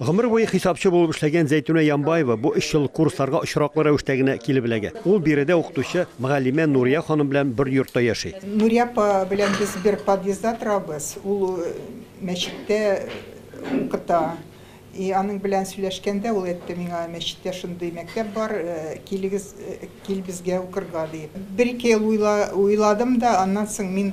Гомер буе хисапчы булып эшләгән Зәйтүнә Ямбаева бу өч ел курсларга очраклы рәвештә генә килеп эләгә. Ул биредә укытучы, мөгаллимә Нурия ханым белән бер йортта яши. Нурия апа белән без бер подъездда торабыз. Ул мәчеттә укыта. И аның белән сөйләшкәндә, ул әйтте миңа, мәчеттә шундый мәктәп бар, килегез, кил безгә укырга, диеп. Бер-ике ел уйладым да, аннан соң мин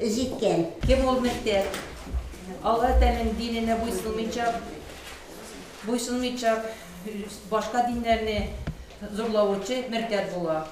Җиткән. Кем ул мөртәт? Алла Тәгаләнең диненә буйсынмыйча, буйсынмыйча, башка диннәрне зурлаучы мөртәт була.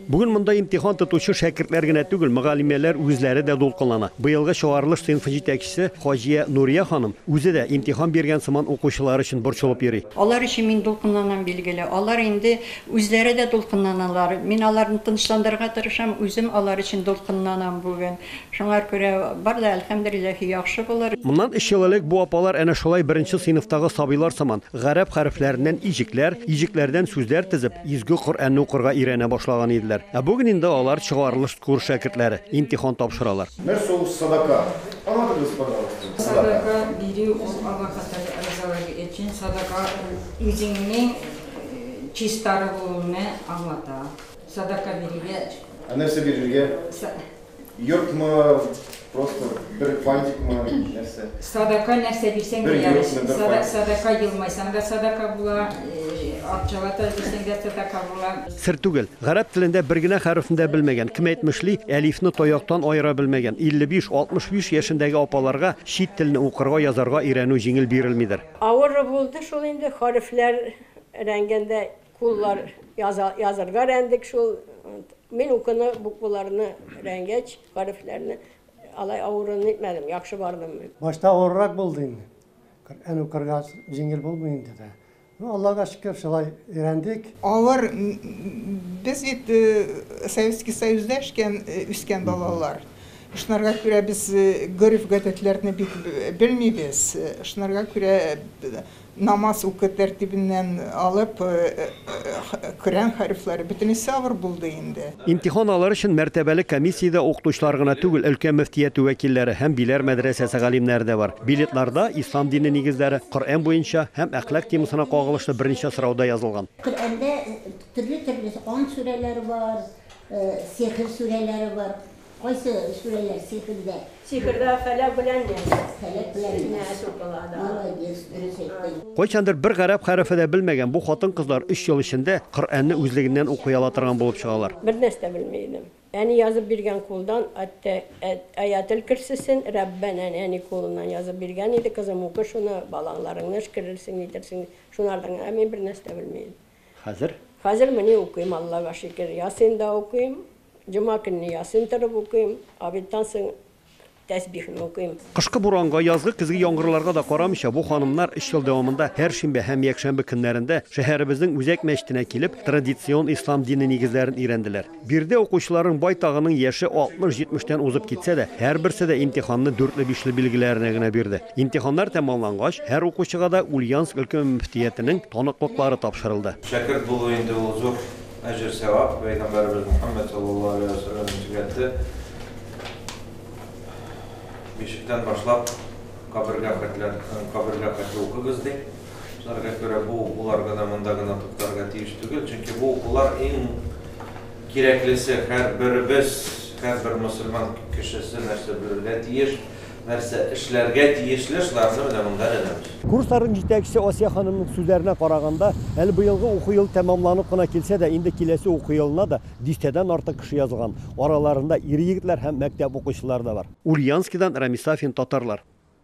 Бүген монда имтихан тотучы шәкертләр генә түгел, мөгаллимәләр үзләре дә дулкынлана. Быелгы чыгарылыш сыйнфы җитәкчесе Хаҗия Нурия ханым үзе дә, имтихан биргән сыман, укучылары өчен борчылып йөри. Алар өчен мин дулкынланам, билгеле. Алар инде Үзләре дә дулкынланалар. Мин аларны тынычландырырга тырышам, үзем алар өчен дулкынланам бүген. Шуңар күрә бар да, әлхәмдүлилләһи, яхшы булыр. Моннан өч ел элек бу апалар әнә шулай беренче сыйныфтагы сабыйлар сыман, гарәп хәрефләреннән иҗекләр, иҗекләрдән сүзләр тезеп, изге Коръәнне укырга өйрәнә башлаган иделәр. Ә бүген инде алар чыгарылыш курс шәкертләре, имтихан тапшыралар. Нәрсә ул садака? Аңлатыгыз, пожалуйста. Садака бирү ул Аллаһка Тәгалә ризалыгы өчен. Садака ул үзеңнең Чистару булуны аңлата. Садака бирергә. Ә нәрсә бирергә? Йортмы, просто бер фантикмы, нәрсә? Садака нәрсә бирсәң дә ярый. Садака елмайсаң да садака була, акчалата бирсәң дә садака була. Сер түгел, гарәп телендә бер генә хәрефне дә белмәгән, кем әйтмешли, әлифне таяктан аера белмәгән 55-65 яшендәге апаларга чит телне укырга, язарга өйрәнү җиңел бирелмидер. Авыры булды шул инде, хәрефләр рәнгендә куллар яза язырга рәндек шул. Мин укуны, букваларны рәнгәч, хәрефләрне алай авырын итмәдем, яхшы бардым мин. Башта авырырак булды инде. Коръән укырга җиңел булмый инде дә. Ну, Аллага шөкер, шулай өйрәндек. Авыр, без бит Советский Союзда эшкән, үскән балалар. Шунарга күрә без гореф-гадәтләрне бик белмибез. Шунарга күрә намаз уку тәртибеннән алып, Коръән хәрефләре бөтенесе авыр булды инде. Имтихан алыр өчен мәртәбәле комиссиядә укытучылар гына түгел, өлкә мөфтияте вәкилләре һәм Биләр мәдрәсәсе галимнәре дә бар. Билетларда Ислам дине нигезләре, Коръән буенча һәм әхлак темасына кагылышлы берничә сорау да язылган. Коръәндә төрле-төрле ант сүрәләре бар, сехер сүрәләре бар. Кайсы сүрәләр сихердә? Сихердә фәләк белән нәс. Фәләк белән нәс. Нәс укыла, да. Молодец, дөрес әйттең. Кайчандыр бер гарәп хәрефе дә белмәгән бу хатын-кызлар өч ел эчендә Коръәнне үзлегеннән укый ала торган булып чыгалар. Бер нәрсә дә белми идем. Әни язып биргән кулдан Аттә Аятел Керсесен Рәббәнә әни кулыннан язып биргән иде, кызым, укы шуны, балаңларыңны эшкерерсең, нитерсең, шунардан гына мин бер нәрсә дә белми идем. Хәзер? Хәзер мени укыйм, Аллага шикер, ясин да укыйм, җома көнне ясин торып укыйм, обедтан соң тәсбихне укыйм. Кышкы буранга, язгы, көзге яңгырларга да карамыйча, бу ханымнар өч ел дәвамында һәр шимбә һәм якшәмбе көннәрендә шәһәребезнең үзәк мәчетенә килеп, традицион ислам дине нигезләрен өйрәнделәр. Биредә укучыларның байтагының яше 60-70 тән узып китсә дә, һәрберсе дә имтиханны дүртле-бишле билгеләренә генә бирде. Имтиханнар тәмамлангач, һәр укучыга да Ульяновск өлкә мөфтиятенең таныклыклары тапшырылды. Шәкерт булу инде ул зур әҗер-сәвап, пәйгамбәребез Мөхәммәд саллаллаһу алейһи вә сәлләм үзгәртте, Бишектән башлап, кабергә хәтле укыгыз, ди. Сүзләргә күрә, бу укулар гына монда гына туктарга тиеш түгел, чөнки бу укулар иң кирәклесе, һәрберебез, һәрбер мөселман кешесе нәрсә белергә тиеш, нәрсә эшләргә тиешле, шуларны менә монда өйрәнәбез. Курсларның җитәкчесе Асия ханымның сүзләренә караганда, әле быелгы уку елы тәмамланып кына килсә дә, инде киләсе уку елына да дистәдән артык кеше язылган, араларында ир-егетләр һәм мәктәп укучылары да бар. Ульяновскидан Рамис Сафин, Татарлар.